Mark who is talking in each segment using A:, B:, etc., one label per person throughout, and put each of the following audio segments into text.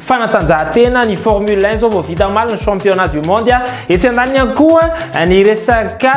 A: fanatanjahantena ny formule 1 zao vao vita omaly ny championnat du monde a etsy andaniny ihany koa ny resaka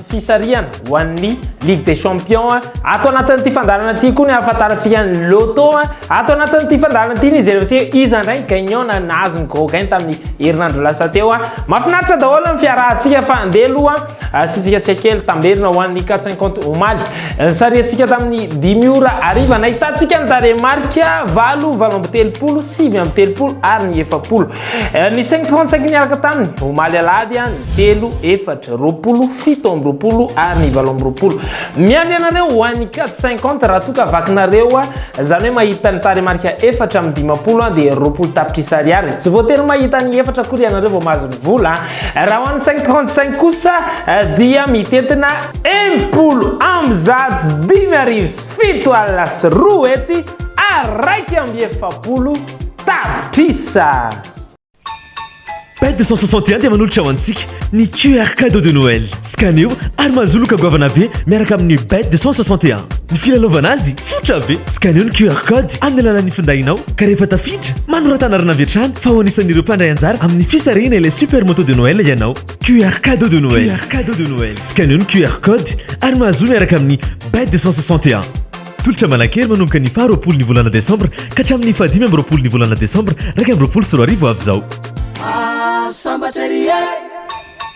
A: fisarihana ho an'ny ligue des champions ato anatin'ity fandaharana ity koa ny ahafantarantsika ny loto ato anatin'ity fandaharana ity ny jerentsika iza indray ny gagnant na nahazo ny gros gain tamin'ny herinandro lasa teo a mafinaritra daholo ny fiarahantsika fa andeha aloha Asiantsika tsika kely tamberina ho an'ny cas 50 omaly. Nisariantsika tamin'ny dimy ora hariva nahitantsika ny tarehimarika valo, valo amby telopolo, sivy amby telopolo ary ny efapolo. Ny 535 niaraka taminy omaly alahady ny telo, efatra, roapolo, fito amby roapolo ary ny valo amby roapolo. Miandry anareo ho an'ny cas 50 raha toa ka vakinareo izany hoe mahita ny tarehimarika efatra amby dimampolo dia roapolo tapitrisa ariary. Tsy voatery mahita ny efatra akory ianareo vao mahazo ny vola. Raha ho an'ny cinq trente cinq kosa dia mitentina enimpolo amby zato sy dimy arivo sy fito alina sy roa hetsy ary iraika amby efapolo tapitrisa.
B: Pet deux cent soixante et un dia manolotra ho antsika ny QR Cadeau de Noël. Scaneo ary mahazo loka goavana be miaraka amin'ny Bet 261. Ny filalaovana azy tsotra be. Scaneo ny QR code amin'ny alalan'ny findainao ka rehefa tafiditra, manoratana arina avy hatrany fa ho anisan'ireo mpandray anjara amin'ny fisarihana ilay Super Moto de Noël ianao. QR Cadeau de Noël. QR Cadeau de Noël. Scaneo ny QR code ary mahazo miaraka amin'ny Bet 261. Tolotra manankery manomboka ny faharoapolo ny volana desambra ka hatramin'ny fahadimy amby roapolo ny volana desambra iraika amby roapolo sy roa arivo avy izao. Ah, sambatra ery e!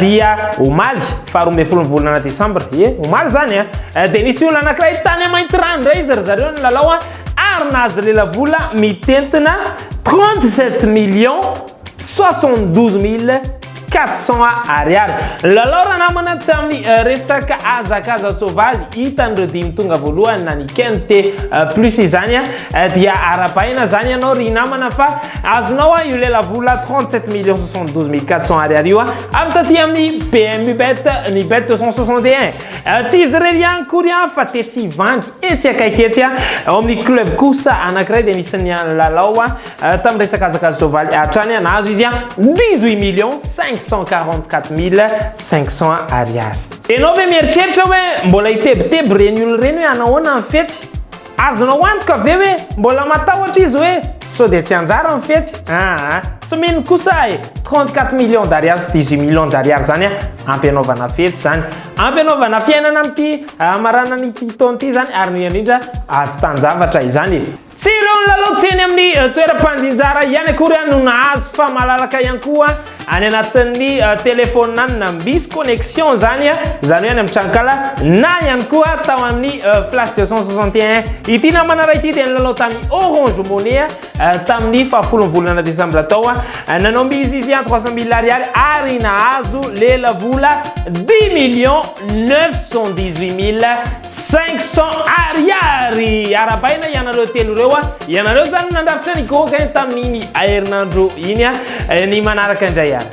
A: Dia omaly faharoa ambin'ny folo ny volana desambra, ie omaly izany a, dia nisy olona anankiray tany Maintirano indray izy ry zareo ny lalao a, ary nahazo lelavola mitentina 37 millions 72 mille 400 ariary. Lalao raha namana tamin'ny resaka hazakazan-tsoavaly, hitan'ireo dimy tonga voalohany na ny quinte plus izany a, Eh dia arabaina zany ianao ry namana fa azonao a io lelavola 37 millions 72 mille 400 ariary io a avy taty amin'ny BMU bet ny bet 261 tsy izy irery ihany kory a fa tetsy Ivandry etsy akaiky etsy a ao amin'ny club kosa anankiray dia nisy ny an'i Lalao a tamin'ny resaka azaka soavaly hatrany a nahazo izy a 18 millions 544 mille 500 ariary ianao ve mieritreritra hoe mbola hitebiteby ireny olona ireny hoe hanahoana ny fety Azonao antoka ve hoe mbola matahotra izy hoe sao dia tsy hanjary ny fety? Aa, tsy mino kosa aho e! 34 millions d'ariary sy 18 millions d'ariary izany an, ampy hanaovana fety izany. Ampy hanaovana fiainana amin'ity maranan'ity taona ity izany ary indrindra indrindra havitan-javatra izany e! Tsy ireo nilalao teny amin'ny toeram-pandinjara ihany akory no nahazo fa malalaka ihany koa Any anatin'ny telefonina misy connexion zany, izany hoe any amin'ny tranonkala na ihany koa tao amin'ny flash 261 ity namana iray ity dia nilalao tamin'ny Orange Money tamin'ny fahafolon'ny volana desambra tao. Nanao mise izy à 300 mille ariary ary nahazo lelavola 10 millions 918 mille Cinq cents Ariary! Arabaina ianareo telo ireo a! Ianareo zany no nandrafitra ny gaoka eh, tamin'iny herinandro iny a! Eh, ny manaraka indray ary.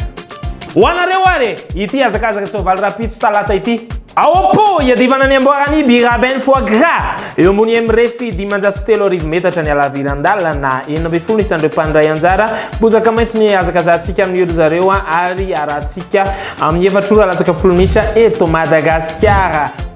A: Ho anareo ary e! Ity hazakazaka soavaly rahampitso talata ity. Ao am-po, iadivana ny amboaran'ny Biraben Foie Gras, eo ambony MREFI dimanjato sy telo arivo metatra ny halaviran-dalana, enina ambin'ny folo isan'ireo mpandray anjara, bozaka maitso ny hihazakazahantsika amin'iory zareo ary harahantsika amin'ny efatra ora latsaka folo minitra eto Madagasikara.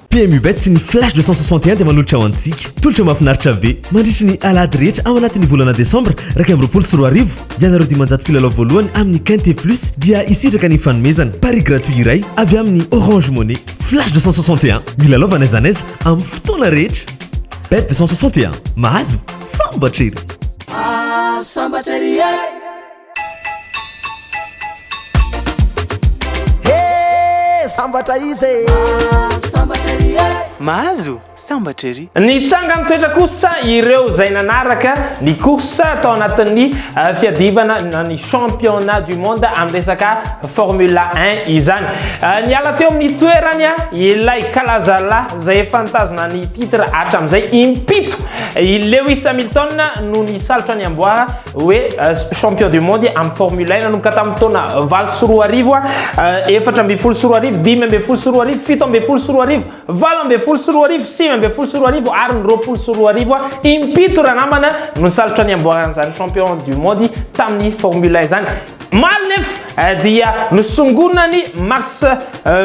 A: PMU Bets sy
B: ny Flash 261 dia manolotra ho antsika tolotra mahafinaritra be mandritra ny alahady rehetra ao anatin'ny volana desambra iraika amby roapolo sy roa arivo. Ianareo dimanjato mpilalao voalohany amin'ny Quinte Plus dia hisitraka ny fanomezana paris gratuit iray avy amin'ny Orange Money. Flash 261, milalaova n'aiza n'aiza amin'ny fotoana rehetra. Bet 261, mahazo sambatra ery!
C: Sambatra ery e! sambatra izy e Mahazo sambatra ery e Mahazo sambatra ery Ny tsangan-toetra
A: kosa ireo izay nanaraka ny course tao anatin'ny fiadivana ny championnat du monde amin'ny resaka formule un izany. Niala teo amin'ny toerany ilay kalazalahy izay efa nitazona ny titre hatramin'izay impito i Lewis Hamilton no nisalotra ny amboara hoe champion du monde amin'ny Formule 1 nanomboka tamin'ny taona valo sy roa arivo efatra ambin'ny folo sy roa arivo dimy ambin'ny folo sy roa arivo fito ambin'ny folo sy roa arivo valo ambin'ny folo sy roa arivo sivy ambin'ny folo sy roa arivo ary ny roapolo sy roa arivo impito ranamana no salotra ny amboaran'izany champion du monde tamin'ny Formule 1 izany Omaly nefa dia nosongonina ny Max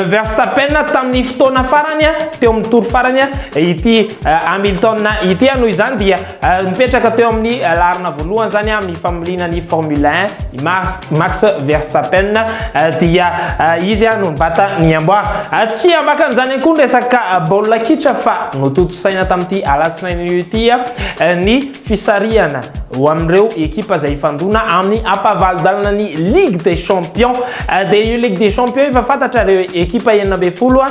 A: Verstappen tamin'ny fotoana farany teo amin'ny tour farany ity Hamilton ity, noho izany dia mipetraka teo amin'ny laharana voalohany izany amin'ny familiana ny Formule 1 i Max Verstappen dia izy no nibata ny amboara. Tsy ambakany izany ihany koa ny resaka baolina kitra fa notontosaina tamin'ity alatsinainy ity ny Fisarihana ho amin'ireo ekipa izay hifandona amin'ny ampahavalo-dalana ny Ligue des Champions. Dia io Ligue des Champions io efa fantatra ireo ekipa enina ambin'ny folo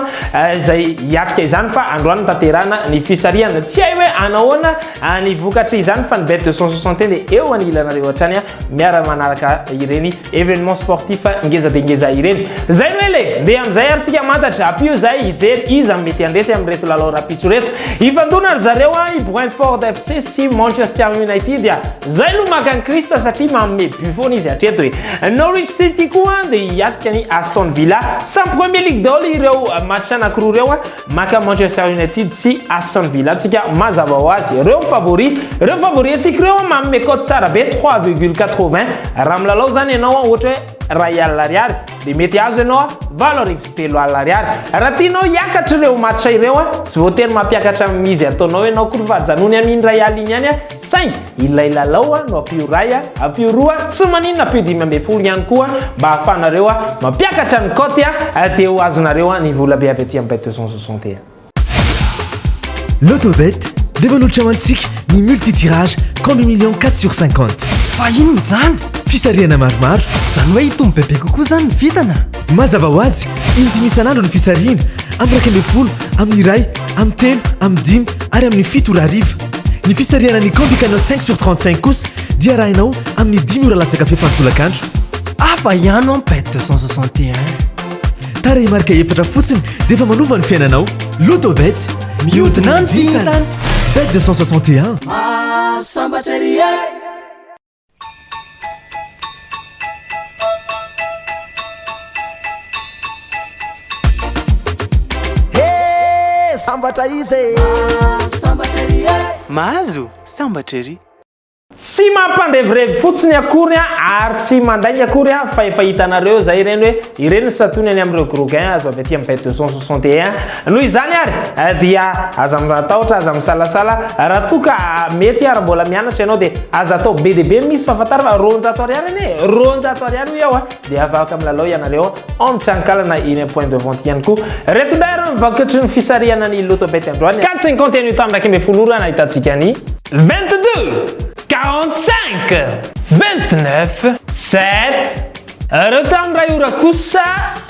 A: izay hiatrika izany fa androany no tanterahana ny fisarihana. Tsy hay hoe hanao ahoana ny vokatr'izany fa ny Bet 261 dia eo anilanareo hatrany miara-manaraka ireny Evenement sportif ngeza dia ngeza ireny. Zay no ela e! Ndeha amin'izay ary tsika mantatra. Ampio izahay hijery iza no mety handresy amin'ireto lalao rahampitso ireto. Hifandona ry zareo an, i Brentford FC sy Manchester United. Zay no maka an'i Christ satria manome but foana izy hatreto e. Norwich City koa dia hiatrika an'i Aston Villa. Samy Premier League daholo ireo match anankiroa ireo. Maka Manchester United sy Aston Villa tsika mazava ho azy reo favori reo favori atsika reo manome cote tsara be 3,80 raha milalao zany ianao ohatra hoe ray alina ariary dia mety azo ianao valo arivo sy telo alina ariary raha tianao hiakatra ireo match ireo tsy voatery mampiakatra amin'izy ataonao ianao koa fa janony amin'iny ray alina iny ihany Saingy ilay lalao no ampio iray, ampio roa, tsy maninona ampio dimy ambin'ny folo ihany koa mba ahafahanareo mampiakatra ny cote dia ho azonareo ny vola be avy aty amin'ny Bet 260.
B: Lotobet dia manolotra ho antsika ny multi-tirage combi millions quatre sur cinquante. Fa inona
C: izany? Fisarihana maromaro.
B: Izany hoe hitombo bebe
C: kokoa izany ny vintana? Mazava ho azy,
B: indimy isan'andro ny fisarihina, amin'ny iraika ambin'ny folo, amin'ny iray, amin'ny telo, amin'ny dimy ary amin'ny fito ora hariva. Ny fisarihana ny Candy Canal 5 sur 35 kosa dia arahinao amin'ny dimy ora latsaka fefy an-tolakandro. Hafa
C: ihany ao Pet 261.
B: Tarehimarika efatra fotsiny dia efa manova ny fiainanao. Lotobet, mihodina
C: ny vintana. Bet 261.
B: Mahasambatra
C: ery e! sambatra izy e Sambatra ery e Mahazo sambatra ery. Tsy
A: mampandevirevy fotsiny akory an, ary tsy mandainga akory an, fa efa hitanareo izay ireny hoe ireny ny satony any amin'ireo gros gains azo avy aty amin'ny bet 261, Noho izany ary dia aza matahotra, aza misalasala, raha toa ka mety ary mbola mianatra ianao dia aza atao be dia be ny misy fa fantaro fa roanjato ariary anie e, roanjato ariary hoy aho dia afaka milalao ianareo ao amin'ny tranonkalana eny amin'ny point de vente ihany koa. Ireto indray ary ny vakitry ny fisarihana ny loto bet androany. Carte sy ny compte anio tamin'ny iraika ambin'ny folo ora nahitantsika ny. Vingt deux, quarante cinq, vingt neuf, sept, ireo tamin'ny iray ora kosa.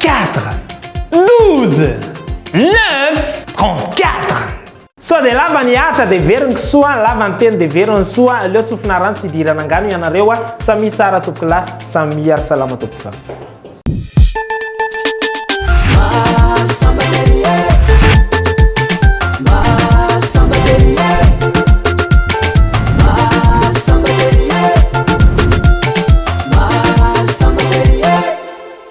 A: Quatre, douze, neuf, trente-quatre. Sao dia lava ny atra dia very ny kisoa, lava ny teny dia very ny soa, aleo tsofina rano tsy hidirana angano ianareo a, samia tsara tompokolahy, samia ary salama tompokolahy.